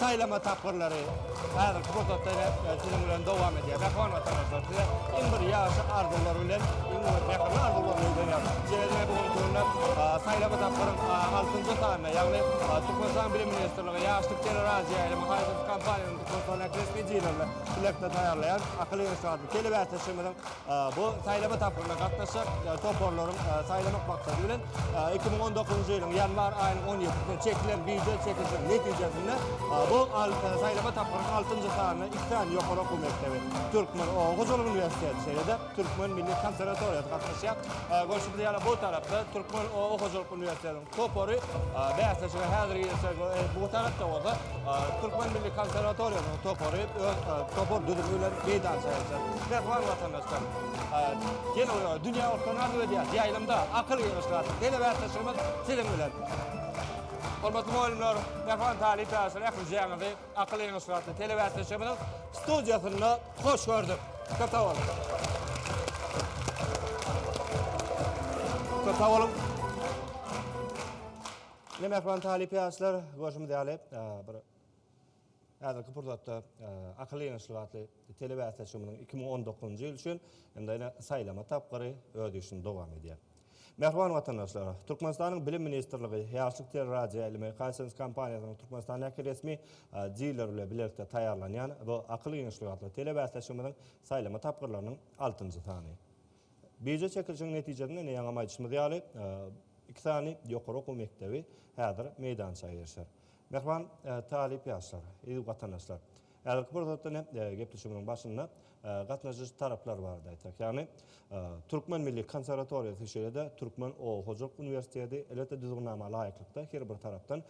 Saýlama tapgyrlary häzirki pursatda ine siziň bilen dowam edýär. Mähriban watandaşlar, size iň bir ýagşy arzuwlar bilen, iň bir mähirli arzuwlar bilen ulanýarys. Şeýle-de bu günki günde saýlama tapgyryň altynjy sanyna, ýagny Türkmenistanyň Bilim ministrligi, Ýaşlyk teleradioýaýlymy haýsydyr kompaniýanyň Türkmenistanyň ähli resmi jillerinde bilelikde taýýarlaýan Akyl ýaşy atly telebäsleşigimiziň Bu saýlama tapgyryna gatnaşjak toparlaryň saýlamak maksady bilen iki müň on dokuzynjy ýylyň ýanwar aýynyň on ýedisinde çekilen býujet çekilişiniň netijesinde bu saýlama tapgyrynyň altynjy sanyna iki sany ýokary okuw mekdebi Türkmen hojalyk uniwersiteti şeýle-de Türkmen milli konserwatoriýasy gatnaşýar. Görşümiz ýaly, bu tarapda Türkmen hojalyk uniwersitetiniň topary bäsleşige häzir girişjek we bu tarapda bolsa Türkmen milli konserwatoriýasynyň topary öz topar düzümi bilen meýdança çykjak. Mähriban watandaşlar, gelin we dünýä ortalygyny arzuw edýäs. Ýaýlymda akyl ýygnaşyk atly tele bäsleşigimiz siziň bilen. Hormatly mugallymlar, mähriban talyp ýaşlar ählijaňyzy Akyl eýe ysgatly telebäsleşigimiziň studiýasynda hoş gördük. Köp sag boluň. Köp sag boluň. Ne mähriban talyp ýaşlar, görşümiz ýaly, bir häzirki pursatda akyl eýe ysgatly Telebäsleşigimiziň iki müň on dokuzynjy ýyl üçin indi saýlama tapgyry öz işini dowam edýär. Mähriban watandaşlar, Türkmenistanyň Bilim ministrligi Ýaşlyk teleradioýaýlymy Hisense kompaniýasynyň Türkmenistandäki resmi dileri bilen bilelikde taýýarlanýan bu Akyl giňişligi atly telebäsleşigimiziň saýlama tapgyrlarynyň altynjy sany. Bije çekilişigiň netijesinde indi ýaňam aýdyşymyz ýaly, iki sany ýokary okuw mekdebi häzir meýdança eýerişer. Mähriban talyp ýaşlar, eziz watandaşlar! Häzirki pursatda ine, gepleşigimiziň başynda gatnaşyjy taraplar barada aýtsak, ýagny Türkmen milli konserwatoriýasy, şeýle-de Türkmen oba hojalyk uniwersiteti, elbetde düzgünnama laýyklykda her bir tarapdan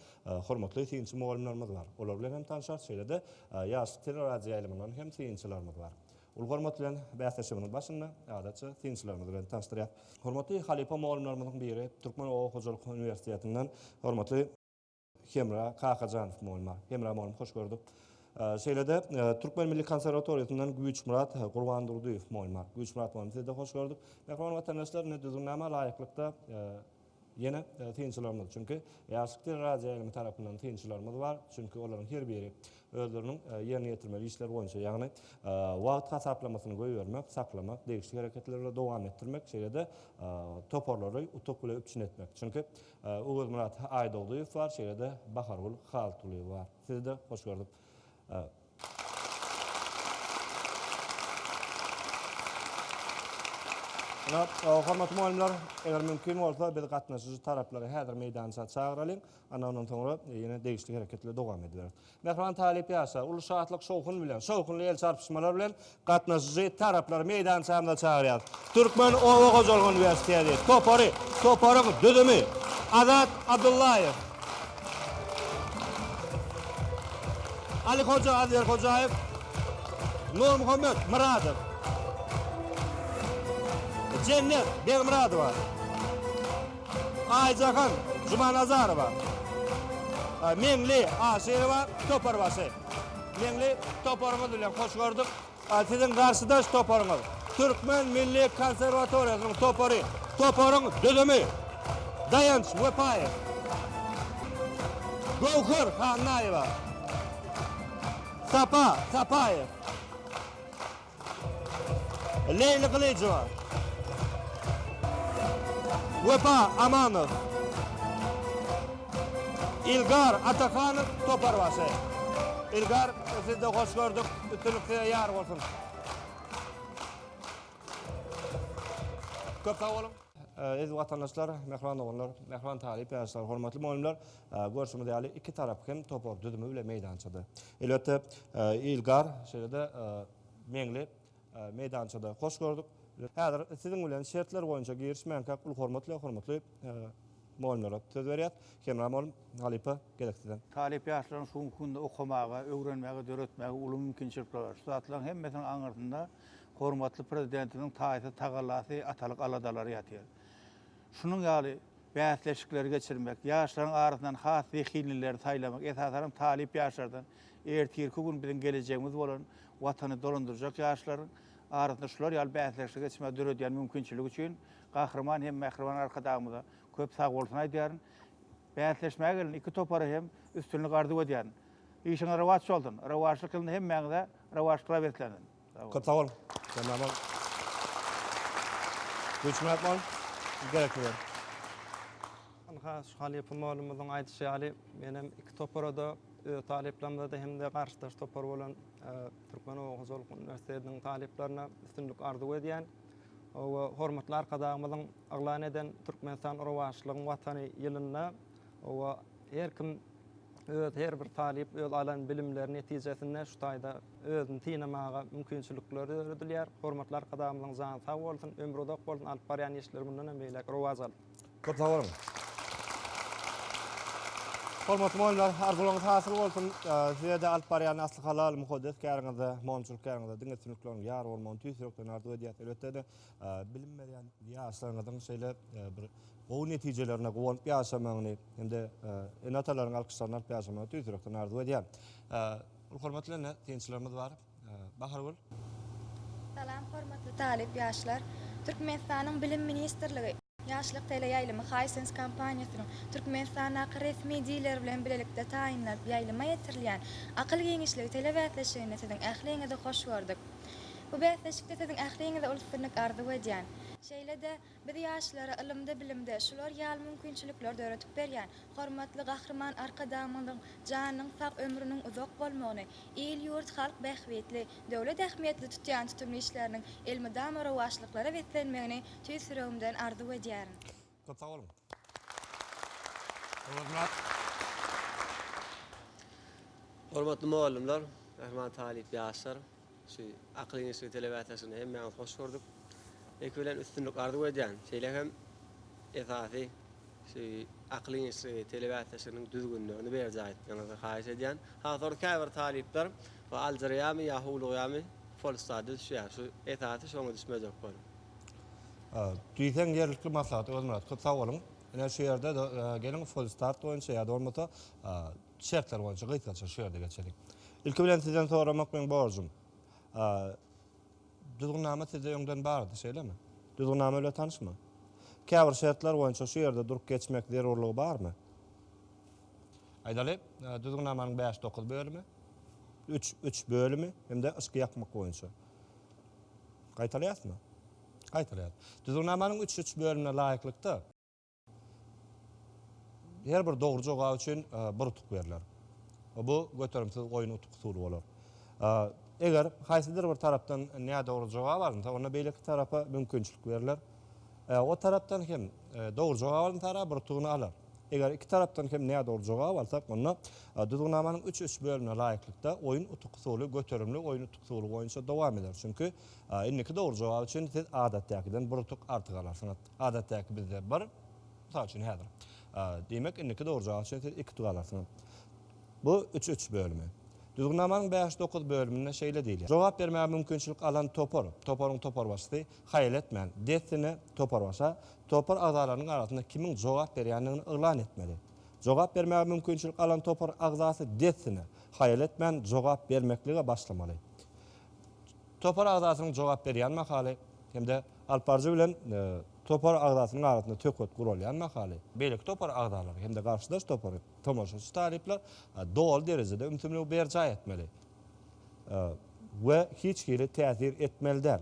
hormatly synçy mugallymlarymyz bar. Olar bilen hem tanşarys, şeýle-de ýaşlyk teleradioýaýlymyndan hem synçylarymyz bar. Uly hormat bilen bäsleşigimiziň başynda adatça synçylarymyzy bilen tanyşdyrýas. Hormatly halypa mugallymlarymyzyň biri, Türkmen oba hojalyk uniwersitetinden hormatly. Hemra Kakajanow mugallym. Hemra mugallym hoş gördük. Şeýle-de Türkmen milli konserwatoriýasyndan Güýçmyrat Gurbandurdyýew mugallym. Güýçmyrat mugallym sizi-de hoş gördük. Mähriban watandaşlar indi düzgünnama laýyklykda ýene synçylarymyz, çünki Ýaşlyk teleradioýaýlymy tarapyndan synçylarymyz bar, çünki olaryň her biri özleriniň ýerine ýetirmeli işleri boýunça, ýagny wagt hasaplamasyny goýbermek, saklamak, degişli hereketleri dowam etdirmek, şeýle-de toparlary utuk bilen üpjün etmek. Çünki Öwezmyrat Aýdogdyýew bar şeýle-de Bahargül Haltulyýewa bar. Sizi-de hoş gördük. Ynha, hormatly mugallymlar, eger mümkin bolsa, biz gatnaşyjy taraplary häzir meýdança çagyralyň, anna ondan soňra ýene degişli hereketleri dowam ediberis. Mähriban talyp ýaşlar uly şatlyk-şowhun bilen, şowhunly el çarpyşmalar bilen gatnaşyjy taraplary meýdançamyza çagyrýarys. Türkmen oba hojalygy uniwersiteti topary, toparyň düzümi, Azat Abdullaýew, Alyhoja Azerhojaýew, Nurmuhammet Myradow, Jennet Begmyradowa. Aýjahan Jumanazarowa, Meňli Aşyrowa, Toparbaşy. Meňli toparyňyz bilen hoş gördük. Siziň garşydaş toparyňyz Türkmen milli konserwatoriýasynyň topary. Toparyň düzümi, Daýanç Wepaýew, Göwher Hannaýewa, Sapa Sapaýew, Leýli Gylyjowa, Wepa Amanow, Ilgar Atahanow toparbaşy. Ilgar, sizi-de hoş gördük. Üstünlik size ýar bolsun. Köp sag boluň. Eziz watandaşlar, mähriban doganlar, mähriban talyp ýaşlar, hormatly mugallymlar! Görşüňiz ýaly, iki tarap hem topar düzümi bilen meýdançada. Elbetde, Ilgar, şeýle-de Meňli meýdançada hoş gördük. Häzir siziň bilen şertler boýunça girişmänkäk uly hormat bilen hormatly mugallymlara söz berýäs. Hemra mugallym, halypa, gezek sizden. Talyp ýaşlaryň şu günki günde okamaga, öwrenmäge, döretmäge uly mümkinçilikleri bar. Şu zatlaryň hemmesiniň aňyrsynda hormatly Prezidentimiziň taýsyz tagallasy, atalyk aladalary ýatyr. Şunuň ýaly bäsleşikleri geçirmek, ýaşlaryň arasyndan has zehinlileri saýlamak, esasanam talyp ýaşlardan, ertirki gün biziň gelejegimiz bolan Watany dolandyrjak ýaşlaryň arasynda şular ýaly bäsleşikleri geçirmäge döredýän mümkinçiligi üçin Gahryman hem Mähriban Arkadagymyza köp sagbolsun aýdýaryn. Bäsleşmäge gelen iki topara hem üstünlik arzuw edýärin. Işiňiz rowaç bolsun! Rowaçlyk ýylynda hemmäňize rowaçlyklar beslensin! Köp sag bol. Senden bol. Güçmek bol. Gerekli ber. Ynha, şu halypa mugallymymyzyň aýdyşy ýaly, men hem iki topara-da, öz talyplarymda-da hem-de garşydaş topar bolan Türkmen oba hojalyk uniwersitetiniň talyplaryna üstünlik arzuw edýän. Hormatly Arkadagymyzyň yglan eden Türkmenistan rowaçlygyň Watany ýylynda, Oba her kim öz her bir talyp öz alan bilimleri netijesinde şu taýda özüni synamaga mümkinçilikleri döredilýär. Hormatly Arkadagymyzyň jany sag bolsun, ömri uzak bolsun, alyp barýan işleri mundan hem beýläk rowaç alsyn. Köp sag boluň. Hormatly mugallymlar, arzuwlaryňyz hasyl bolsun. Size-de alyp barýan asly halal, mukaddes käriňizde, monçulyk käriňizde diňe üstünlikleriniň ýar bolmagyny tüýs ýürekden arzuw edýäs. Elbetde-de, bilim berýän ýaşlaryňyzyň şeýle bir gowy netijelerine guwanyp ýaşamagyny hem-de ene-atalaryň alkyşlaryny alyp ýaşamagyny tüýs ýürekden arzuw edýän. Hormatly ene synçylarymyz bar. Bahargül. Salam hormatly talyp ýaşlar. Türkmenistanyň Bilim ministrligi. Ýaşlyk teleýaýlymy Hisense kompaniýasynyň Türkmenistandaky resmi dileri bilen bilelikde taýynlanyp ýaýlyma ýetirilýän Akyl giňişligi telebäsleşiginde siziň ähliňizi hoş gördük. Bu bäsleşikde siziň ähliňize uly üstünlik arzuw edýän. Şeýle-de, biz ýaşlara ylymda-bilimde şular ýaly mümkinçilikleri döredip berýän hormatly Gahryman Arkadagymyzyň janynyň sag, ömrüniň uzak bolmagyny, il-ýurt, halk bähbitli, Döwlet ähmiýetli tutýan tutumly işleriniň elmydama rowaçlyklara beslenmegini tüýs ýüregimden arzuw edýärin. Köp sag boluň. Öwezmyrat. Hormatly mugallymlar, mähriban talyp ýaşlar, şu Akyl inştytuty telebäsleşigine hemmäňizi hoş gördük. Ilki bilen üstünlik arzuw edýän, şeýle hem esasy Şu Akyl işligi telebäsleşiginiň düzgünlerini berjaý etmegiňizi haýyş edýän. Ha sonra käbir talyplar we aljyrýamy ýa howlugýamy folstady düşýär. Şu esasy şoňa düşmejek boluň. A diýseň ýerlikli maslahat Özmyrat köp sag boluň. Ine şu ýerde geliň folstart boýunça ýa-da bolmasa şertler boýunça gysgaça şu ýerde geçeliň. Ilki bilen sizden soramak meň borjum. Düzgünnama sizde öňden bardy, şeýlemi? Düzgünnama bilen tanyşmy? Käbir şertler boýunça şu ýerde durup geçmek zerurlygy barmy? Aýdaly, Düzgünnamanyň bäş, dokuz bölümi, üç, üç bölümi hem-de yşky ýakmak boýunça. Gaýtalaýasmy? Gaýtalaýas. Düzgünnamanyň üç, üç bölümine laýyklykda. Her bir dogry jogap üçin bir utuk berler. Bu göterimsiz oýun utuk usuly bolar. Eger haýsydyr bir tarapdan nädogry jogap alynsa, onda beýleki tarapa mümkinçilik berler. O tarapdan hem dogry jogap alan tarap bir utugyny alar. Eger iki tarapdan hem nädogry jogap alsak, onda Düzgünnamanyň üç üç bölümine laýyklykda oýun utuk usuly göterimli oýun utuk usuly boýunça dowam eder. Çünki indiki dogry jogap üçin siz adatdakiden bir utuk artyk alarsyňyz. Adatdäki bizde bir, mysal üçin häzir. Diýmek, indiki dogurjaga üçin siz iki tutup alarsyňyz. Bu üç üç bölümi. Düzgünnamanyň bäş dokuz bölüminde şeýle diýilýär. Jogap bermäge mümkinçilik alan topar, toparyň toparbaşysy, haýal etmän, dessine toparbaşa, topar agzalarynyň arasynda kimiň jogap berýändigini yglan etmeli. Jogap bermäge mümkinçilik alan topar agzasy dessine, haýal etmän, jogap bermeklige başlamaly. Topar agzasynyň jogap berýän mahaly hem-de alyp baryjy bilen topar agzasynyň arasynda söhbet guralýan mahaly, beýleki topar agzalary hem-de garşydaş topary tomaşaçy talyplar doly derejede ümsümligi berjaý etmeli we hiç hili täsir etmeli däl.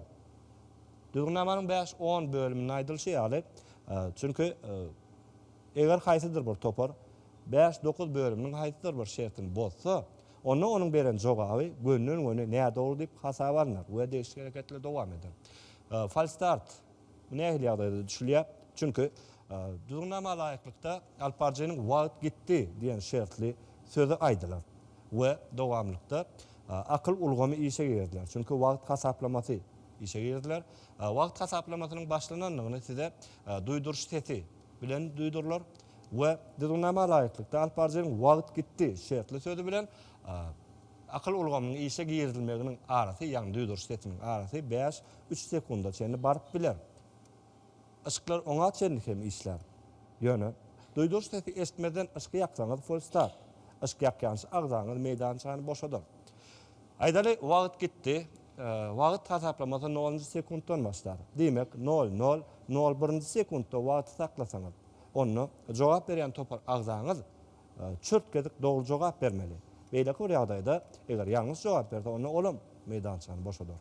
Düzgünnamanyň bäş, on bölüminde aýdylyşy ýaly, çünki eger haýsydyr bir topar bäş, dokuz bölüminiň haýsydyr bir şertini bozsa, Onda onuň beren jogaby gönden-göni nädogry diýip hasaba alnar we degişli hereketler dowam eder. Falstart bu nähili ýagdaýda düşülýär? Çünki Düzgünnama laýyklykda alyp baryjynyň Wagt gitdi diýen şertli sözi aýdylar we dowamlykda akyl ulgamy işe giriziler. Çünki wagt hasaplamasy işe giriziler. Wagt hasaplamasynyň başlanandygyny size duýduryş sesi bilen duýdurylar. we düzgünnama laýyklykda alyp baryjynyň wagt gitdi şertli sözi bilen akyl ulgamynyň işe girizilmeginiň arasy, ýagny duýduryş sesiniň arasy bäş, üç sekunda çenli baryp biler. Yşyklar oňa çenli hem işlär. Ýöne, duýduryş sesi eşitmezden yşyk ýaksaňyz fulstap. Yşyk ýakýança agzaňyz meýdançany boşadar. Aýdaly, wagt gitdi. Wagt hasaplamasy nolunjy sekuntdan başlar. Diýmek, nol, nol, nol birinji sekuntda wagty saklasaňyz. Onda jogap berýän topar agzaňyz çürt gedik dogry jogap bermeli. Beýleki bir ýagdaýda eger ýalňyş jogap berse onda olam meýdançany boşadar.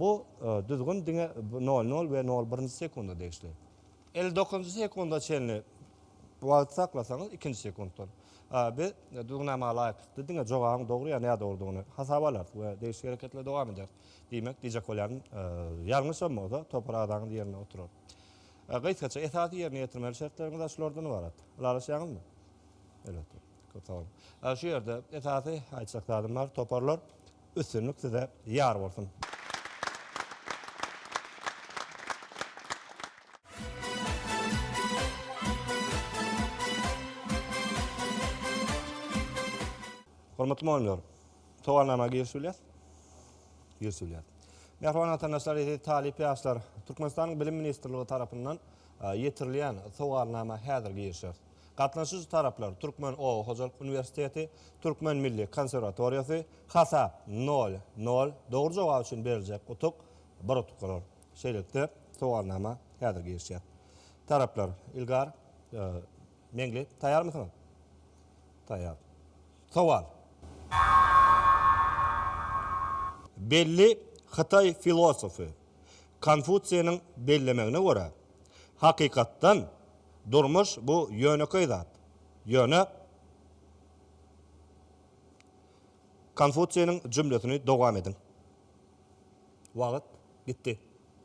Bu düzgün diňe nol nol we nol birinji sekunda degişli. Elli dokuzynjy sekunda çenli wagt saklasaňyz ikinji sekuntdan biz düzgünnama laýyklykda diňe jogabyň dogry ýa nädogrydygyny hasaba alarys we degişli hereketleri dowam ederis. Diýmek diýjek bolýanym ýalňyşam bolsa topar agzaňyz ýerinde oturar. Gysgaça, esasy ýerine ýetirmeli şertleriňiz şulardan ybarat. Ylalaşýaňyzmy? Elbetde. Köp sag boluň. Şu ýerde esasy aýtjak zadym bar, toparlar. Üstünlik size ýar bolsun! Hormatly mugallymlar! Sowalnama giriş bilýär. Giriş bilýär. Mähriban watandaşlar, eziz talyp ýaşlar, Türkmenistanyň Bilim ministrligi tarapyndan ýetirilýän sowalnama häzir girişer. Gatnaşyjy taraplar, Türkmen oba hojalyk uniwersiteti, Türkmen milli konserwatoriýasy, hasap, nol, nol, dogry jogap üçin beriljek utuk, bir utuk bolar. Şeýlelikde, sowalnama häzir girişýär. Taraplar, Ilgar, Meňli, taýarmysyňyz? Taýar. Sowal. Belli hytaý filosofy Konfusiýniň bellemegine görä, hakykatdan, durmuş bu ýönekeý zat. Ýöne Konfusiýniň jümlesini dowam ediň. Wagt gitdi.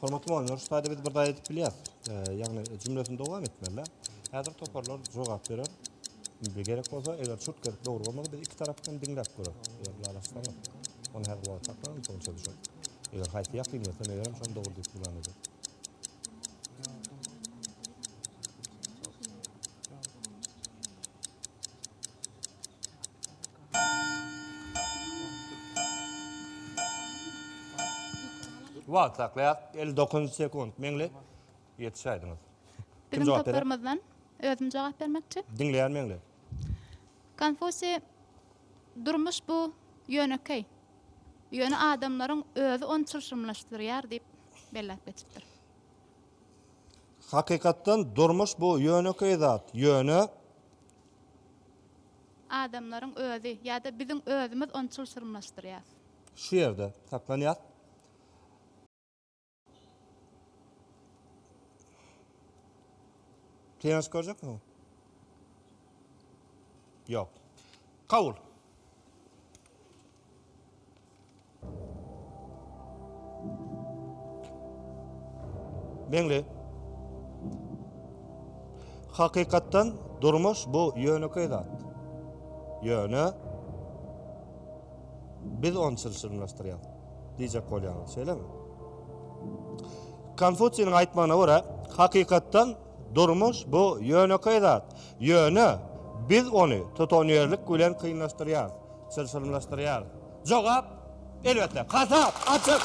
Hormatly muallimler, şu taýda biz bir zaýa edip bilýäs. E, ýagny jümlesini dowam etmeli. Häzir toparlar jogap berer. Bir gerek bolsa, eger çurt gerek dogry bolmasa, biz iki tarapdan diňläp görer. Eger lalaşsa, onu her wagt saklarym, soň çözüşür. Eger haýsy ýakyn bolsa, megerem şony dogry diýip bilen edi. Wagt saklaýar 59 sekund meňli ýetişäýdiňiz. Kim Biziň jogap berer? toparymyzdan özüm jogap bermekçi. Diňleýän meňli. Konfusiý durmuş bu ýönekeý. Ýöne adamlaryň özi ony çylşyrymlaşdyrýar diýip belläp geçipdir. Hakykatdan durmuş bu ýönekeý zat, ýöne. Adamlaryň özi, ýa-da biziň özümiz ony çylşyrymlaşdyrýas. Şu ýerde saklanýas. Kinoşka görjekmiň? Ýok. Kabul. Meňli. Hakykatdan durmuş bu ýönekeý zat. Ýöne biz ony çylşyrymlaşdyrýarys. Diýjek bolýaňyz, şeýlemi? Konfusiýiň aýtmagyna görä, hakykatdan durmuş bu ýönekeý zat. Ýöne biz ony tutanýerlik bilen kynlaşdyrýarys. çylşyrymlaşdyrýar? Jogap, elbetde, hasap açyk!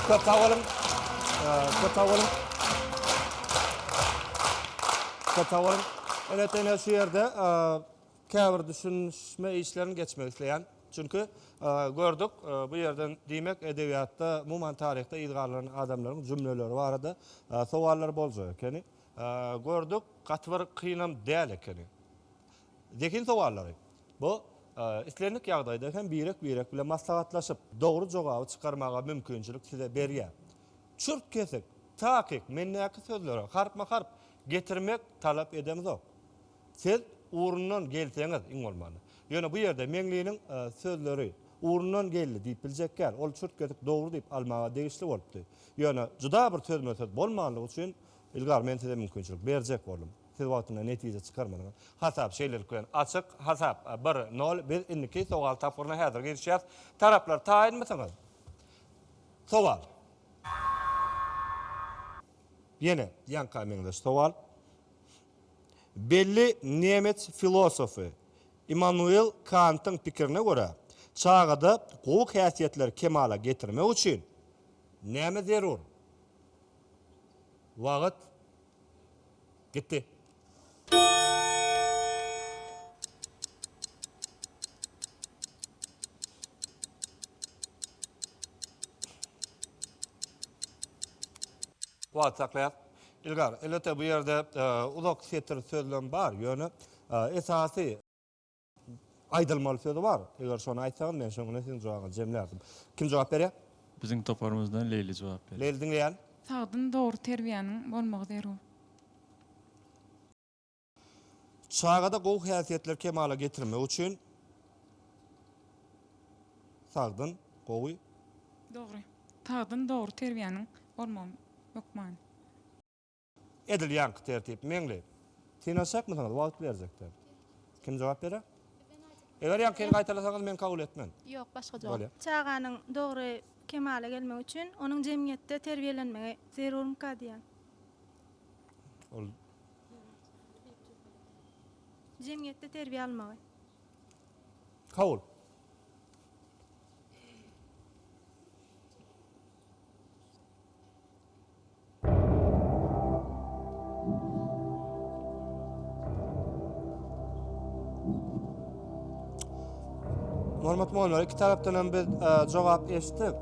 Köp sag boluň. Köp sag boluň. Köp sag boluň. Elbetde, ine şu ýerde käbir düşünişme işlerini geçmek isleýän. Çünki, gördük, bu ýerden diýmek edebiýatda, umuman taryhda yz galdyran adamlaryň jümleleri barada sowallar boljak ekeni. Gördük, gaty bir kynam däl ekeni. Zehin sowallary. Bu, islendik ýagdaýda hem birek-birek bilen maslahatlaşyp, dogry jogaby çykarmaga mümkinçilik size berýär. Çürt-kesik, takyk, mendäki sözleri harpma-harp getirmek talap edemzok. Siz ugrundan gelseňiz, iň bolmanda. Ýöne bu ýerde Meňliniň sözleri ugrundan geldi diýip biljekgär, ol çürt kesik dogry diýip almaga degişli bolupdy. Ýöne juda bir sözme-söz bolmanlygy üçin ilgari men size mümkinçilik berjek boldum. Siz wagtynda netije çykarmadyňyz. Hasap şeýlelik bilen açyk. Hasap, bir, nol. Biz indiki sowal tapgyryna häzir girişýäs. Taraplar taýynmysyňyz? Sowal. Ýene ýaňka meňzeş sowal. Belli nemes filosofy Immanuel Kantyň pikirine görä, çagada gowy häsiýetleri kemala getirmek üçin näme zerur? Wagt gitdi. Wagty saklaýas. Ilgar, elbetde bu ýerde uzak setir sözlem bar, ýöne esasy aýdylmaly sözi bar. Eger şony aýtsaňyz, men şoň bilen siziň jogabyňyzy jemlärdim. Kim jogap berýär? Biziň toparymyzdan Leýli jogap berýär. Leýli diňleýän. Sagdyn, dogry terbiýäniň bolmagy zerur. Çagada gowy häsiýetleri kemala getirmek üçin sagdyn, gowy. Dogry. Sagdyn, dogry terbiýäniň bolmagy hökmany. Edil ýaňky tertip. Meňli. Synanyşjakmysyňyz? Wagt berjekler. Kim jogap berer? Eger ýaňkyny gaýtalasaňyz men kabul etmen. Ýok, başga jogap. Bolýar. Çaganyň dogry kemala gelmegi üçin onuň jemgyýetde terbiýelenmegi zerurmyka diýýän. Ol. Jemgyýetde terbiýe almagy. Kabul. Hormatly mugallymlar, iki tarapdan hem biz jogap eşitdik.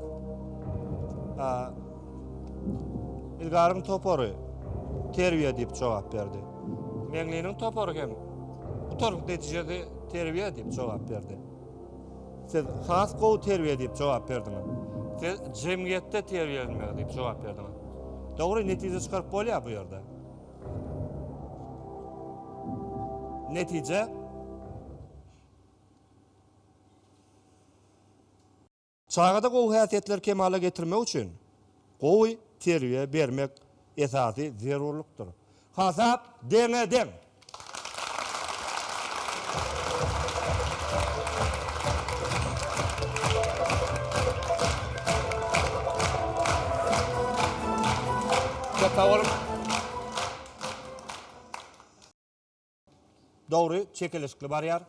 Ilgaryň topary terbiýe diýip jogap berdi. Meňliniň topary hem gutarykly netijeli terbiýe diýip jogap berdi. Siz has gowy terbiýe diýip jogap berdiňiz. Siz jemgyýetde terbiýelenmegi diýip jogap berdiňiz. Dogry netije çykaryp bolýar bu ýerde. Netije Çagada gowy häsiýetleri kemala getirmek üçin gowy terbiýe bermek esasy zerurlykdyr. Hasap deňe-deň. Köp sag boluň. Dogry, çekeleşikli barýar.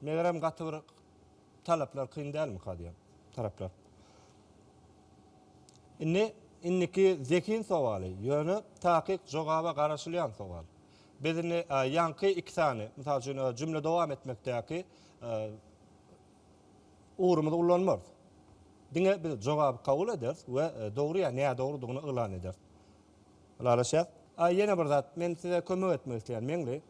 Megerem gaty bir talaplar kyn dälmika diýýän taraplar. Indi indiki zehin sowaly, ýöne takyk jogaba garaşylýan sowal. Biz indi ýaňky iki sany, mysal üçin, jümle dowam etmekdäki ugurymyzy ullanmarys. Diňe biz jogaby kabul ederis we dogry ýa nädogrydygyny yglan ederis. Ylalaşýas. A ýene bir zat, men size kömek etmek isleýän, Meňli.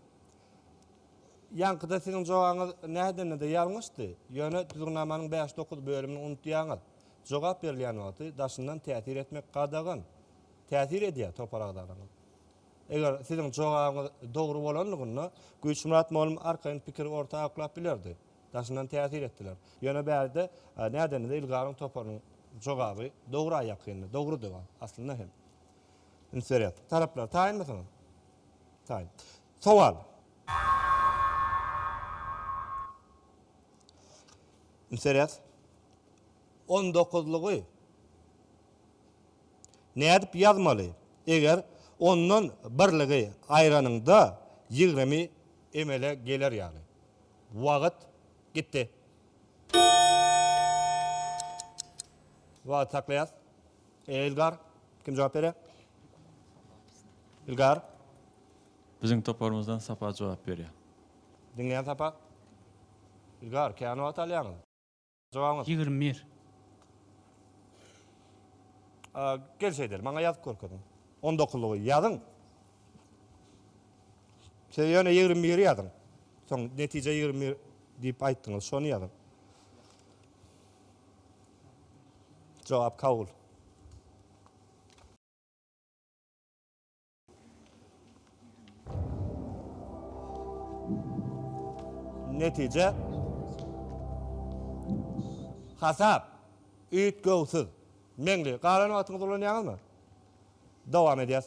Ýaňkyda siziň jogabyňyz nädende-de ýalňyşdy, ýöne düzgünnamanyň bäş-dokuz bölümini unutýaňyz. Jogap berilýän wagty daşyndan täsir etmek gadagan. Täsir edýär, topar agzalaryňyz. Eger siziň jogabyňyz dogry bolanlygynda, Güýçmyrat molum arkaýyn pikiri orta aklap bilerdi. Daşyndan täsir etdiler. Ýöne bärde nädenede Ilgaryň toparynyň jogaby dogra ýakyndy. Dogrudy ol, aslynda hem. Üns berýäs. Taraplar, taýynmysyňyz? Taýyn. Sowal. Üns berýäs. On dokuzlygy nädip ýazmaly, eger ondan birligi aýranyňda ýigrimi emele geler ýaly? Wagyt gitdi. Wagyt saklaýas. Ilgar, kim jogap berýä? Ilgar. Biziň toparymyzdan Sapa jogap berýär. Diňleýän Sapa. Ilgar, kän wagyt alýaňyz. Jogabyňyz? Ýigrimi bir. A, gel şeýdeli, maňa ýazyp görkeziň. On dokuzlygy ýazyň. Siz ýöne ýigrimi biri ýazyň. Soň netije ýigrimi bir diýip aýtdyňyz, şony ýazyň. Jogap kabul. Netije Hasap Üýt göwsüz Meňli Galan wagtyňyzy ulanýaňyzmy? Dowam edýäs.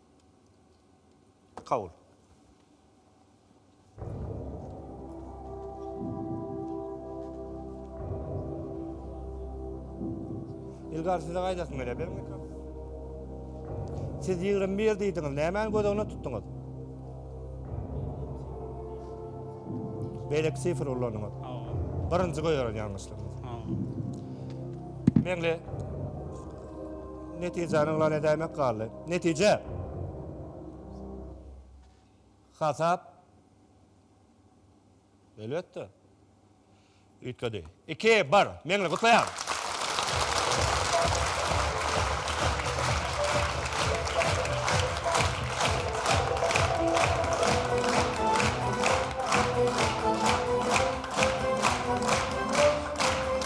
Kabul. Ilgari size gaýdasyň gelýär, beriň mikrofon. Siz 21 diýdiňiz, nämäni göz öňüne tutduňyz? Beýleki sifr ulanyňyz. Birinji goýaran ýalňyşlygyňyz. Meňli Netijäni yglan edäýmek galdy. Netije. Hasap. Elbetde. Üýtgedi. Iki, bir. Meňli gutlaýan.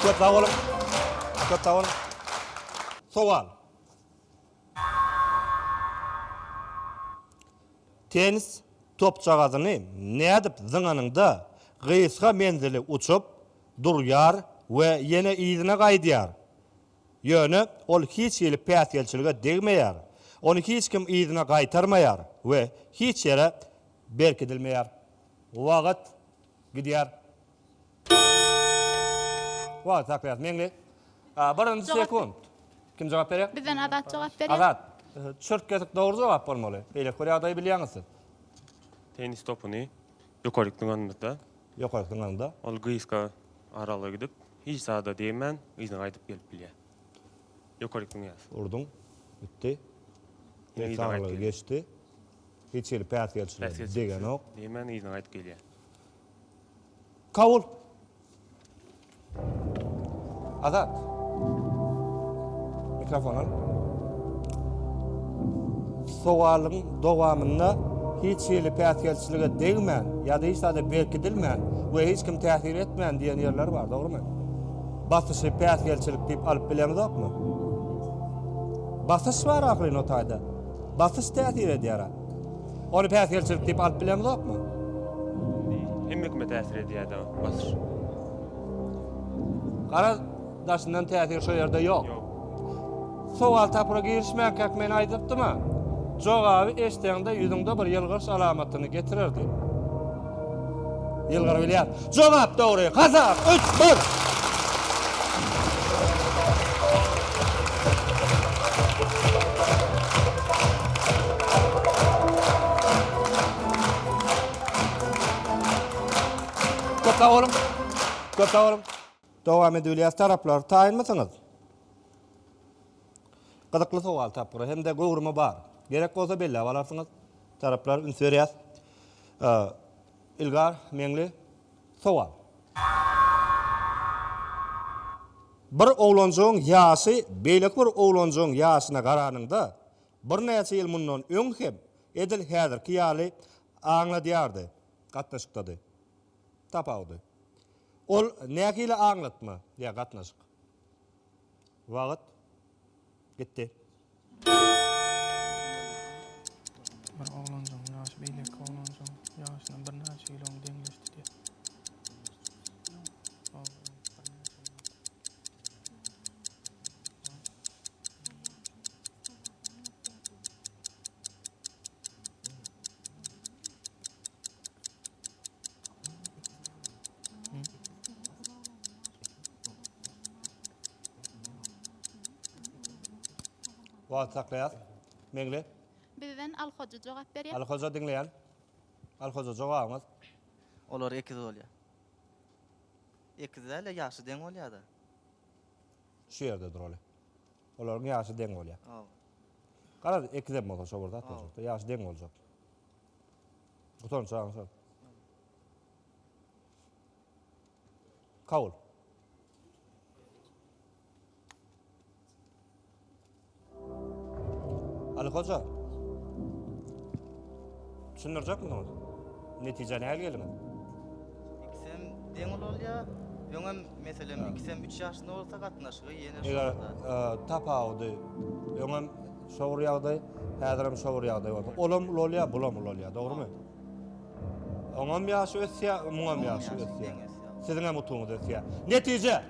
Köp sag boluň. Köp sag boluň. Sowal. Tennis topjagazyny nädip zyňanyňda gysga menzili uçup, durýar we ýene yzyna gaýdýar. Ýöne ol hiç hili päsgelçilige degmeýär, ony hiç kim yzyna gaýtarmaýar we hiç ýere berkidilmeýär. Wagyt gidýär. Wah, saklas, meňli. Birinji sekunt. Kim jogap berýär? Bizden Azat jogap berýär. Azat. Çürt kesik dogry jogap bolmaly. Beýleki bir ýagdaýy bilýäňiz siz? Tennis topuny ýokaryk zyňanymyzda. Ýokaryk zyňanymda. Ol gysga aralga gidip, hiç zada degmän, yzyna gaýdyp gelip bilýär. Ýokaryk zyňýas. Urduň. Gitdi. Hiç aralga geçdi. Hiç hili päsgelçilige degenok. Degmän yzyna gaýdyp gelýär. Kabul. Azat. Mikrofon al. Sowalyň dowamynda hiç hili päsgelçilige degmän, ýa-da hiç zada berkidilmän we hiç kim täsir etmän diýen ýerler bar, dogrumy? Basyşy päsgelçilik diýip alyp bileňizokmy? Basyş bar ahyryn o taýda. Basyş täsir edýär. Ony päsgelçilik diýip alyp bilemzokmy? Hemme kime täsir edýär-dä Batyr? Gara daşyndan täsir şo ýerde ýok. Sowal-tapyra girişmänkäk men aýdypdym-a, jogaby eşdeňde ýüzüňde bir ýylgyryş alamatyny getirerdi. Ýylgyryp bilýär. Jogap dogry. Hasap üç, bir. Köp sag boluň. Köp sag boluň. Dowam edip bilýäs taraplar. Taýynmysyňyz? Gyzykly sowal tapgyry hem-de göwrümi bar. Gerek bolsa belläp alarsyňyz. Taraplar üns berýär. Ilgar Meňli, Sowal. Bir oglanjygyň ýaşy beýleki bir oglanjygyň ýaşyna garanyňda, birnäçe ýyl mundan öň hem edil häzirki ýaly aňladýardy, gatnaşykdady. Tapawudy. Ol nähili aňlatma ýa gatnaşyk? Wagt. Gitdi. Bir oglanjygyň ýaşy beýleki oglanjygyň ýaşyna birnäçe kilogram deňleşdi diýýär. Wagt saklaýas. Meňli. Bizden Al Hoja jogap berýär. Al Hoja diňleýän. Al Hoja jogabyňyz. Olar ekiz bolýar. Ekiz däl-de, ýaşy deň bolýar-da. Şu ýerde dur oly. Olaryň ýaşy deň bolýar. Garaz, ekizem bolsa şo bir zat boljakda, ýaşy deň boljak. Gutan çagaň şol. Kabul. Ali hoja. Düşündirjekmiň ony? Netijä nähili geldiňiz? Ikisem deň ulalýar. Öňem meselem ikisem 3 ýaşynda bolsa gatnaşygy ýene şol Eger zat. e, tapawudy öňem şo bir ýagdaý, häzirem şo bir ýagdaý bolsa, olam ulalýar, bulam ulalýar, dogrumy? Oňam ýaşy ösýär, muňam ýaşy ösýär. Siziňem utugyňyz ösýär. Netije!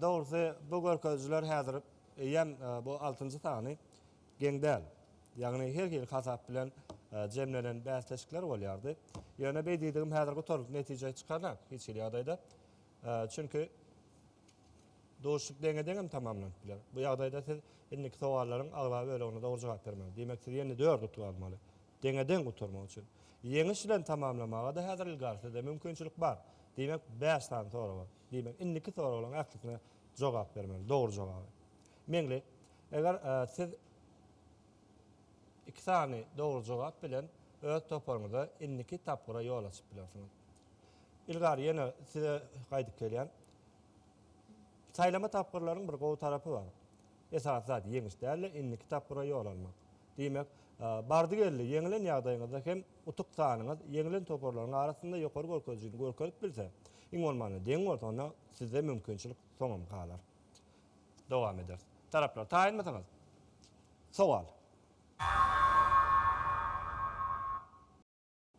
Dogrusy, bu görkezijiler häzir eýýäm bu altynjy sany geň däl. Ýagny her hili hasap bilen jemlenen bäsleşikler bolýardy. Ýöne beý diýdigim häzir gutarylyp netije çykarnak hiç hili ýagdaýda. Çünki duşuşyk deňe-deň hem tamamlanyp biler. Bu ýagdaýda siz indiki sowallaryň aglaba bölegine dogry jogap bermeli. Diýmek siz ýene dört utuk almaly. Deňe-deň gutarmak üçin. Ýeňiş bilen tamamlamaga-da häzir ilgari sizde mümkinçilik bar. Diýmek bäş sany soraga. Diýmek, indiki soraglaryň ählisine jogap bermeli, dogry jogaby. Meňli, Eger siz iki sany dogry jogap bilen öz toparyňyza indiki tapgyra ýol açyp bilersiňiz. Ilgari ýene size gaýdyp gelýän. Saýlama tapgyrlaryň bir gowy tarapy bar. Esasy zat ýeňiş däl-de, indiki tapgyra ýol almak. Diýmek, bardy-geldi ýeňilen ýagdaýyňyzda hem Utuk sanyňyz ýeňlen toparlaryň arasynda ýokary görkezijini görkezip bilse, iň bolmanda deň bolsa, onda sizde mümkinçilik soňam galar. Dowam ederis. Taraplar, taýynmysyňyz? Sowal.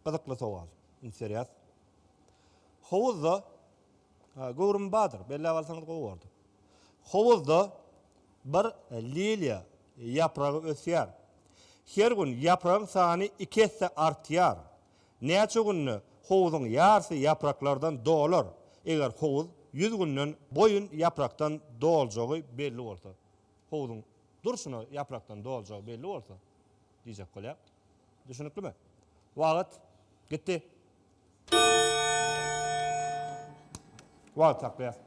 Gyzykly sowal. Interýas. Howuzda Göwrümi bardyr, belläp alsaňyz gowy bordy. Howuzda bir liliýa ýapragy ösýär. Her gün ýapragyň sany iki esse artýar. Näçe günde howuzyň ýarsy ýapraklardan dolar, eger howuz ýüz günden boýun ýaprakdan doljagy belli bolsa, howuzyň durşuna ýaprakdan doljagy belli bolsa, Diýjek bolýar. Düşüniklimi? Wagt. Gitdi. Wagt saklaýas.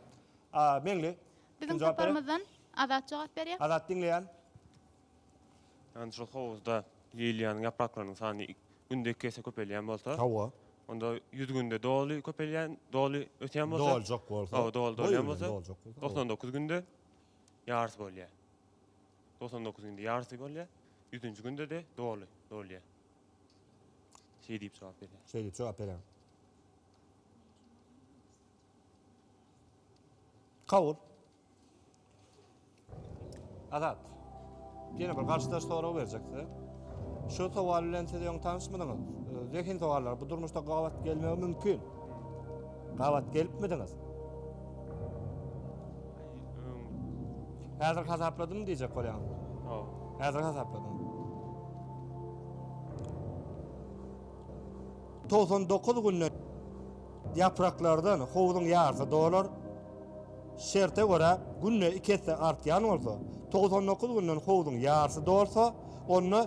A. Meňli. Biziň toparymyzdan Azat jogap berýär. Azat diňleýän. Ýagny şol howuzda liliýanyň ýapraklarynyň sany gündeki ýese köpelýän bolsa. Hawa. Onda ýüz günde doly köpelýän, doly ösýän bolsa. Doljak bolsa. Hawa, doly dolýan bolsa. Doljak bolsa. Doksan dokuz günde ýarys bolýar. Togsan dokuz günde ýarysy bolýar. Ýüzünji günde-de doly dolýar. Şeý diýip jogap berýär. Şeý diýip jogap berýär. Kabul. Azat. Ýene bir garşydaş sorag berjek size. Şu sowal bilen siz öň tanyşmydyňyz? Zehin sowallar. Bu durmuşda gabat gelmegi mümkin. Gabat gelipmidiňiz? Häzir hasapladym diýjek bolýan. Haw. Häzir hasapladym. 99 günde ýapraklardan howuzyň ýarysy dolar. Şerte görä günde 2 esse artýan bolsa, 99 günden howuzyň ýarysy dolsa, onda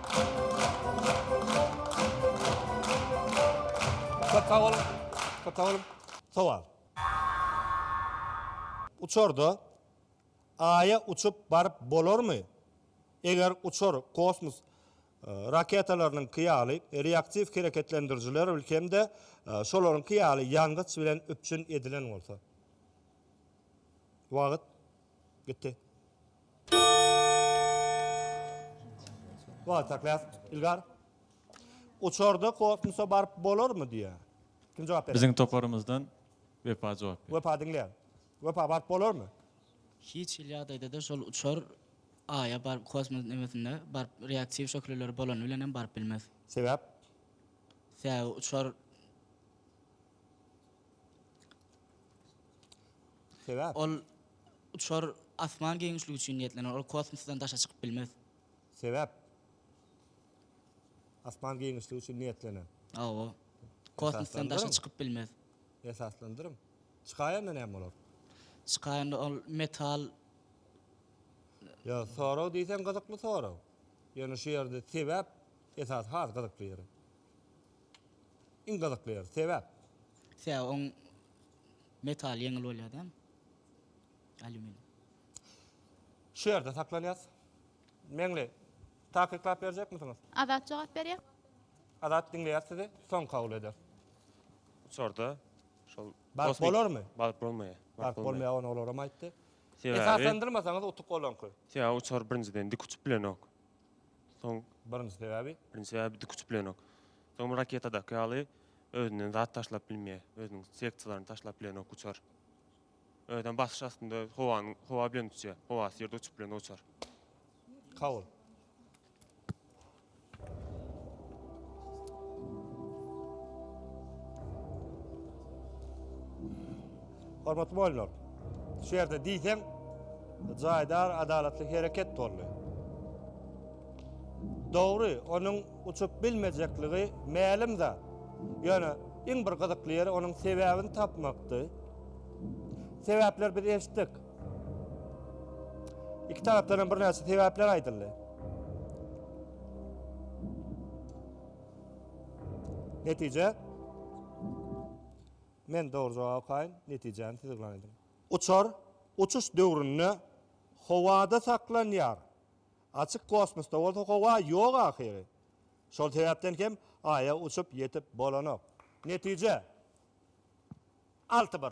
Köp sag boluň. Köp sag boluň. Sowal. Uçarda Aýa uçup baryp bolarmy? Eger uçar kosmos raketalarynyňky ýaly reaktiw hereketlendirijiler hem-de şolaryňky ýaly ýangyç bilen üpjün edilen bolsa. Wagt Gitdi. Wah, taklas, Ilgar. Uçarda kosmosa baryp bolarmy diýýär. Kim jogap berer? Biziň toparymyzdan Wepa jogap berer. Wepa diňleýär. Wepa baryp bolarmy? Hiç hili ýagdaýda-da şol uçar Aýa baryp kosmos nemesinde baryp reaktiw şöhleleri bolany bilen hem baryp bilmez. Sebäp? Sebäbi uçar Sebäp? Ol uçar asman giňişligi üçin niýetlenen, ol kosmosdan daşa çykyp bilmez. Sebäp? Asman giňişligi üçin niýetlenen. Hawa. Kosmosdan daşa çykyp bilmez. Esaslandyryň. Çykaýanda näme bolar? Çykaýanda ol metal. Ýa sorag diýseň gyzykly sorag. Ýöne şu ýerde sebäp esasy has gyzykly ýeri. Iň gyzykly ýeri. Sebäp? Sebäbi oň metaly ýeňil bolýar däl. Alýuminiý. Şu ýerde saklanýas. Meňli, takyklap berjekmisiňiz? Azat jogap berýär. Azat diňleýär sizi, soň kabul eder. Uçarda şol Baryp bolarmy? Baryp bolmaýar. Baryp bolmaýar, ony olaram aýtdy. Sebäbi? Esaslandyrmasaňyz utuk olaňky. Sebäbi uçar birinjiden dik uçup bilenok. Soň. Birinji sebäbi. Birinji sebäbi diküçüplenok. Soň bir raketadaky ýaly özünden zat taşlap bilmeýär. Özüniň sektsiýalaryny taşlap bilenok uçar. Özem basyş astynda howanyň howa bilen uçýar. Howasyz ýerde uçup bilenok uçar. Kabul. Hormatly boýlar! Şu ýerde diýseň jaýdar adalatly hereket boldy. Dogry, onuň uçup bilmejekligi mälim zat. Ýöne iň bir gyzykly ýeri onuň sebäbini tapmakdy. Sebäpleri biz eşitdik. Iki tarapdan hem birnäçe sebäpler aýdyldy. Netije? Men dogry jogap okaýyn, netijäni siz yglan ediň. Uçar uçuş döwründe howada saklanýar. Açyk kosmosda bolsa howa ýok ahyry. Şol sebäpden hem Aýa uçup ýetip bolanok. Netije, alty bir.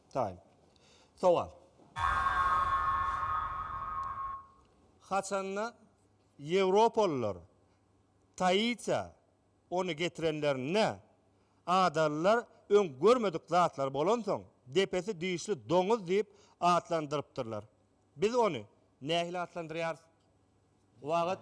Time. Sowal. Haçanda ýewropalylar Taitiýa ony getirenlerinde, adalylar öň görmedik zatlar bolansoň, depesi dişli doňuz diýip atlandyrypdyrlar. Biz ony nähili atlandyrýarys? Wagt.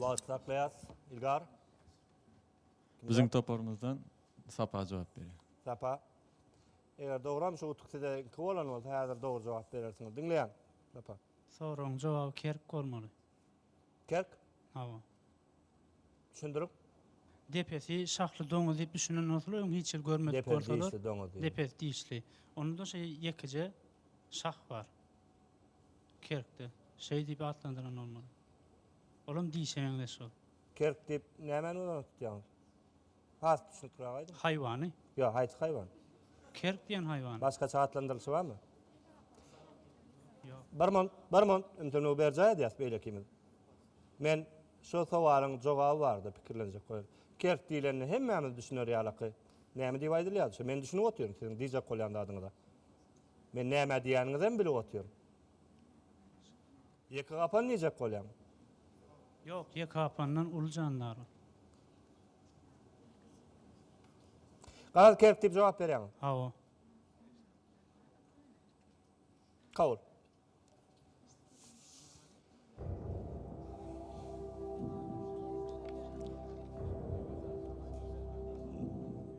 Wagt saklaýas, Ilgar. Biziň toparymyzdan Sapa jogap berýär. Sapa. Eger dogram şu utuk size iki bolan bolsa, häzir dogry jogap berersiňiz. Diňleýän. Sapa. Soragyň jogaby kerk bolmaly. Kerk. Hawa. Düşündirip. Depesi şahly doňuz diýip düşünen bolsalar, öň hiç ýer görmedik Depeli bolsalar. dişli doňuz diýip. Depesi dişli. Onda-da şeý ýekeje şah bar. Kerkde. Şeý diýip atlandyran bolmaly. Olam dişe meňzeş ol. Kerk diýip nämäni göz öňünde tutýaňyz? Has düşnükräk aýdyň. Haýwany. Ýok, haýsy haýwan? Kerk diýen haýwany. Başgaça atlandyrylyşy barmy? Ýok. Bir mun, bir mun, ünsüňi berjaý edýäs beýlekimiz. Men şu sowalyň jogaby barada pikirlenjek bolýan. Kerk diýlende hemmämiz düşüner ýalaky. Näme diýip aýdylýar şu? Men düşünip otyryn siziň diýjek bolýan zadyňyza. Men nämä diýýäniňizem bilip otyryn. Ýeke gapan diýjek bolýaň. Ýok, ýeke gapandan uly jandar. Garaz kerk diýip jogap berýäňiz. Hawa. Kabul.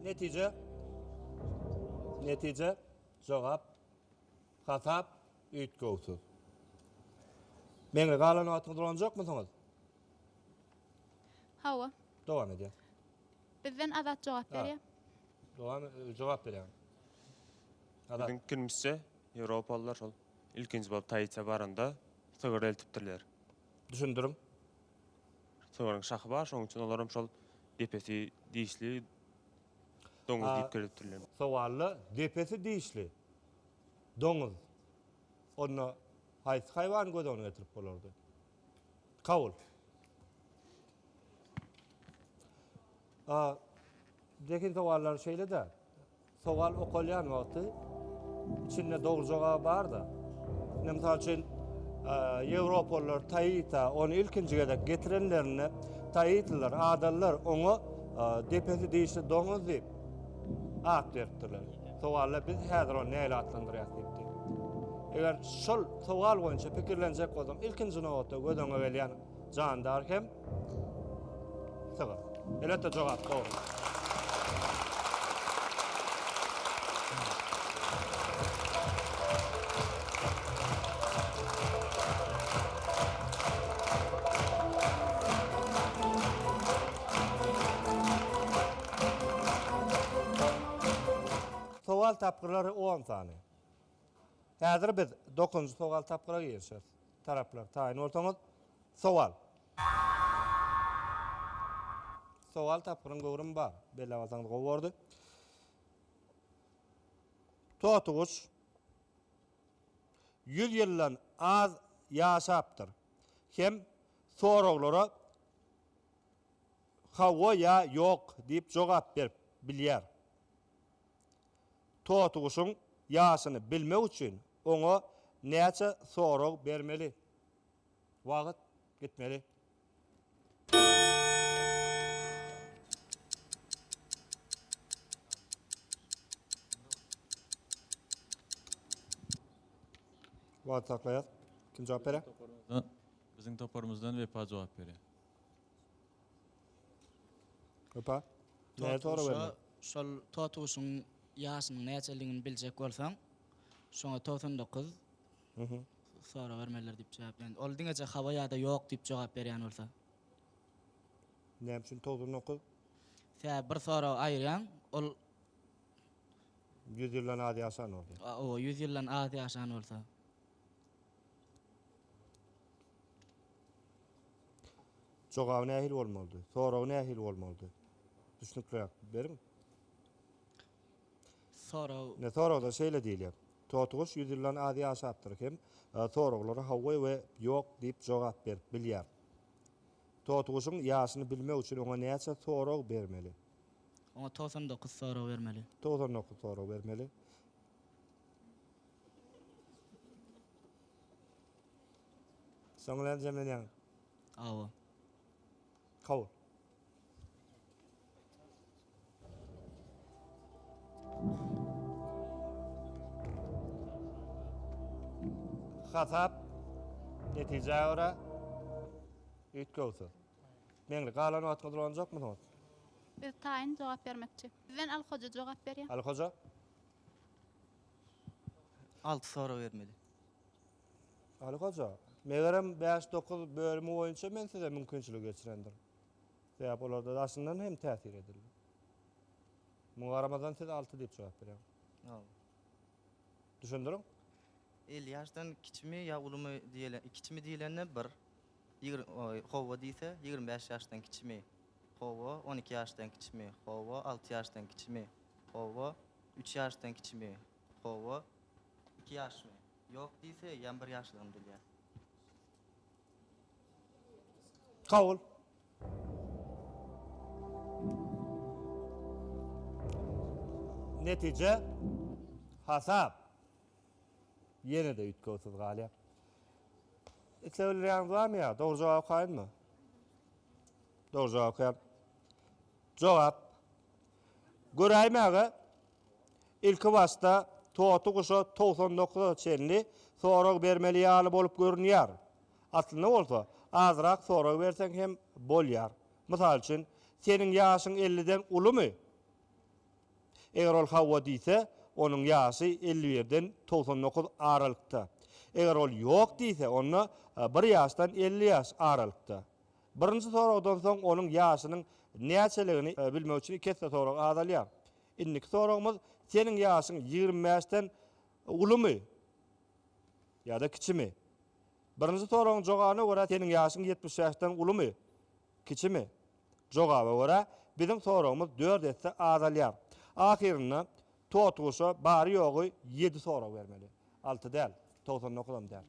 Netije. Netije. Jogap. Hasap. Üýtgewsiz. Meňli galan wagtyňyz ulanjakmysyňyz? Hawa. Dowam edýän. Bizden Azat jogap berýär. Dowam jogap berýän. Azat. Biziň pikirmizçe, ýewropalylar şol ilkinji bolup Taitiýa baranda sygyr eltipdirler. Düşündiriň. Sygyryň şahy bar, şonuň üçin olar hem şol depesi dişli doňuz diýip girizipdirler. Sowalda depesi dişli. Doňuz. Onda haýsy haýwany göz öňüne getirip bolardy? Kabul. A, zehin sowallary şeýle-de, sowal okalýan wagty içinde dogry jogaby bar-da. Ine, mysal üçin, ýewropalylar Taita, ony ilkinji gezek getirenlerinde Taitliler, adalylar oňa depesi dişli doňuz diýip at beripdirler. Sowalda biz häzir ony näle atlandyrýas diýipdi. Eger şol sowal boýunça pikirlenjek bolsaň, ilkinji nobatda göz öňüňe gelýän jandar hem sygyr. Elbetde jogap dogry. Sowal tapgyrlary on sany. Häzir biz dokuzynjy sowal tapgyra girişeris. Taraplar, taýyn bolsaňyz, sowal. Sowal tapgyryň göwrümi bar. Belläp alsaňyz gowy bordy. Totyguş ýüz ýyldan az ýaşapdyr hem soraglara Hawa ýa ýok diýip jogap berip bilýär. Totyguşuň ýaşyny bilmek üçin oňa näçe sorag bermeli? Wagt gitmeli. Wagty saklaýas. Kim jogap berýär? Biziň toparymyzdan Wepa jogap berýär. Opa. Näet ora berme. Şol totuşyň ýaşynyň näçeligini biljek bolsaň, şoňa togsan dokuz sora bermelidir diýip jogap berýän. Ol diňeje hawa ýa-da ýok diýip jogap berýän bolsa. Näme üçin togsan dokuz? Sebäbi bir soragy aýyrýaň, ol. Ýüz ýyldan az ýaşan bolsa. Oba, ýüz ýyldan az ýaşan bolsa. Jogaby nähili bolmalydy? Soragy nähili bolmalydy? Düşnükliräk beriň. Sorag. Ne soragda şeýle diýilýär. Totyguş 100 ýyldan az ýaşapdyr hem e, soraglara hawa we ýok diýip jogap berip bilýär. Totyguşyň ýaşyny bilmek üçin oňa näçe sorag bermeli? Oňa 99 sorag bermeli. 99 sorag bermeli. Soň bilen jemlenýäňiz. Awa. Kabul. Hasap netijä görä üýtgewsiz. Meňli galan wagtyňyz dolanjakmysyňyz? Biz taýyn jogap bermekçi. Sizden Al hoja jogap berýär. Al hoja, Alty sorag bermeli. Aly Hoja, megerem bäş-dokuz bölümi boýunça men size mümkinçiligi geçirendirin. Sebäp olarda daşyndan hem täsir edildi. Muňa garamazdan siz alty diýip jogap berýäň. Hawa. Düşündiriň. Elli ýaşdan kiçimi ýa ulumy diýle, kiçimi diýlende bir, Ýigrim oý, howwa diýse, ýigrim bäş ýaşdan kiçimi? Howwa, on iki ýaşdan kiçimi? Howwa, alty ýaşdan kiçimi? Howwa, üç ýaşdan kiçimi? Howwa, iki ýaşmy? Ýok diýse, ýam bir ýaşlygyny bilýär. Kabul. Netije, hasap. Ýene-de üýtgewsiz galýar. Isleg bildirýäňiz barmy ýa dogry jogap okaýynmy? Dogry jogap okaýan. Jogap. Göräýmäge ilki başda toty guşa togsan dokuza çenli sorag bermeli ýaly bolup görünýär. Aslynda bolsa azrak sorag berseň hem bolýar. Mysal üçin, Seniň ýaşyň elliden ulumy? Eger ol hawa diýse, onuň ýaşy elli birden togsan dokuz aralykda. Eger ol ýok diýse, onda bir ýaşdan elli ýaş aralykda. Birinji soragdan soň onuň ýaşynyň näçeligini bilmek üçin iki esse sorag azalýar. Indiki soragymyz, Seniň ýaşyň ýigrimi bäşden ulumy ýa-da kiçimi? Birinji soragyň jogabyna görä, Seniň ýaşyň ýetmiş bäşden ulumy? Kiçimi? Jogaba görä, biziň soragymyz dört esse azalýar. Ahyrynda Totguşa bary-ýogy ýedi sorag bermeli. Alty däl, togsan dokuzam däl.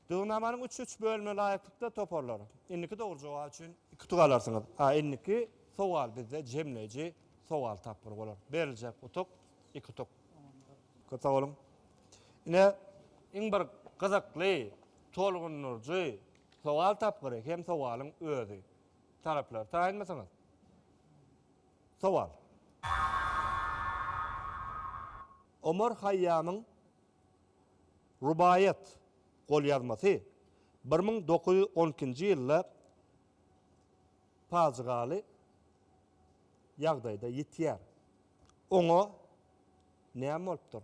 Düzgünnamanyň üç-üç bölümine laýyklykda toparlar. Indiki dogry jogap üçin iki utuk alarsyňyz. A indiki sowal bizde jemleýji sowal tapgyry bolar. Beriljek utuk, iki utuk. Köp sag boluň. Ine, iň bir gyzykly. Tolgundyryjy sowal tapgyry hem sowalyň özi. Taraplary taýynmysyňyz? Sowal. Omar Haýýamyň Rubaýat golýazmasy bir müň dokuz ýüz on ikinji ýylda pajygaly ýagdaýda ýitýär. Oňa näme bolupdyr?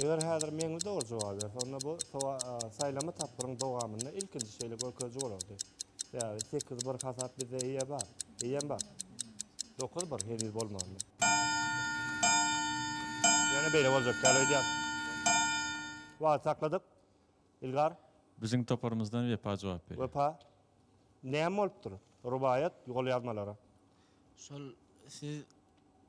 Eger häzir meňli dogry jogap berse, onda bu saýlama tapgyryň dowamynda ilk Ikinji şeýle görkeziji bolardy. Sebäbi sekiz bir hasap bizde eýe bar. Eýem bar. Dokuz bir heniz bolmandy. Ýöne beýle boljak däl öýdýän. Wagt sakladyk. Ilgar. Biziň toparymyzdan Wepa jogap berýär. Wepa. Näme bolupdyr? Rubaýat golýazmalara. Şol siz.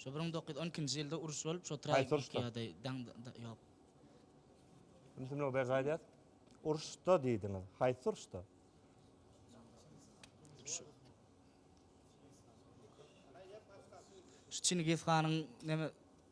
Şo bir müň dokuz ýüz on ikinji ýylda uruş bolup, şo Haýsy tragik uruşda? ýa-da daň ýok. Ümsüm Nurly Berdi aýdýar. Uruşda diýdiňiz. Haýsy uruşda? Şu Çingiz hanyň neme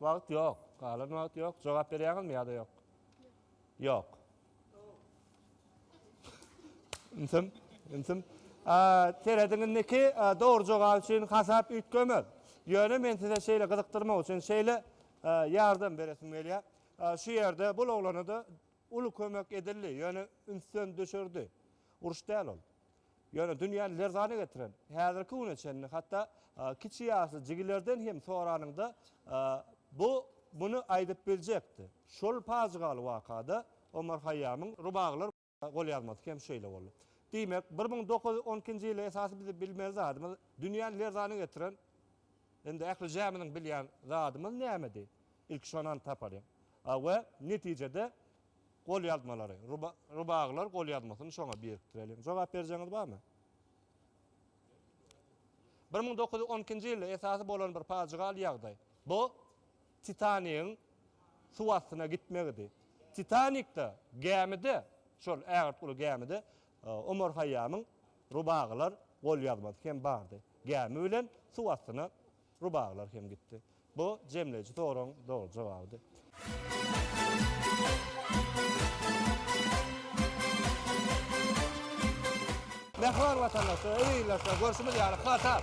Wagt ýok. Galan wagt ýok. Jogap berýäňizmi ýa-da ýok? Ýok. Intim, intim. Serediň indiki dogry jogap üçin hasap üýtgemez. Ýöne men size şeýle gyzykdyrmak üçin şeýle ýardam beresim gelýär. Şu ýerde bul oglana-da uly kömek edildi, ýöne ünsden düşürdi. Uruş däl ol. Ýöne dünýäni lerzana getiren, häzirki güne çenli hatda kiçi ýaşly jigilerden hem soranyňda, bu muny aýdyp biljekdi. Şol pajygaly wakada Omar Haýýamyň Rubaglar golýazmasy hem şeýle boldy. Diýmek, bir müň dokuz ýüz on ikinji ýyly esasy biziň bilmeli zadymyz, dünýäni lerzana getiren, indi ählijämiziň bilýän zadymyz nämedi? Ilki şony anyk tapalyň we netijede, Golýazmalary, Rubagylar golýazmasyny şoňa birikdireliň. Jogap berjegiňiz barmy? Bir müň dokuz ýüz on ikinji ýylda esasy bolan bir pajygaly ýagdaý. Bu Titanigiň suw astyna gitmegidi. Titanikde, gämide, şol ägirt uly gämide Omar Haýýamyň Rubagylar golýazmasy hem bardy. Gämi bilen suw astyna Rubaglar hem gitdi. Bu jemleýji soragyň dogry jogabydy. Mähriban watandaşlar, eziz ildeşler, görşümiz ýaly, hatar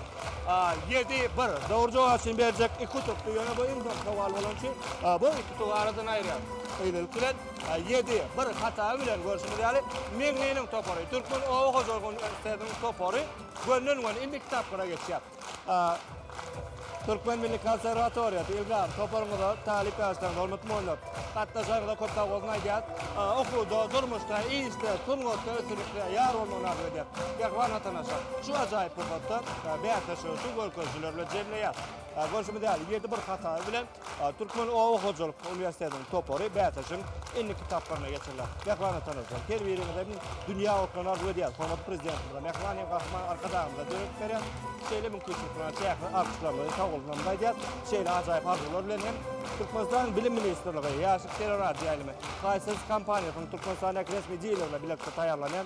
ýedi, bir. Dogry jogap üçin berjek iki utykdy, ýöne bu iň soňky sowal bolany üçin bu iki utugy aradan aýyrýarys. Gyýylylyk bilen, ýedi, bir hata bilen, görşümiz ýaly, Meňliniň topary, Türkmen oba hojalyk uniwersitetiniň topary gönden-göni indiki tapgyra geçýär. Türkmen milli konserwatoriýasy Ilgam toparyňyza talyp ýaşlaryňyza hormatly monytor gatnaşanyňyza köp sag bolsun aýdýas. Okuwda, durmuşda, işde, sungatda üstünlikler ýar bolmagyny arzuw edýäs. Pehwan Atana şa şu ajaýyp pursatda bäsleşigi şu görkezjiler bilen jemleýär. Görşümiz ýaly ýedi bir hatary bilen Türkmen oba hojalyk uniwersitetiniň topary bäsleşigiň indiki tapgyryna geçirilýär. Mähmana tanalýar. Her biriňize mün dünýä otlaryny arzuw edýäris. Hormatly Prezidentimize, Mähriban hem Gahryman Arkadagymyza döredip berýän şeýle mümkinçilikleriň çäksiz artyklygyny, sagbolsunlaryny aýdýar. Şeýle ajaýyp arzuwlar bilen hem Türkmenistanyň Bilim ministrligi, Ýaşlyk serarady ýaýlymy, Kaýsers kompaniýasynyň Türkmenistandäki resmi dilerine bilelikde taýýarlanýan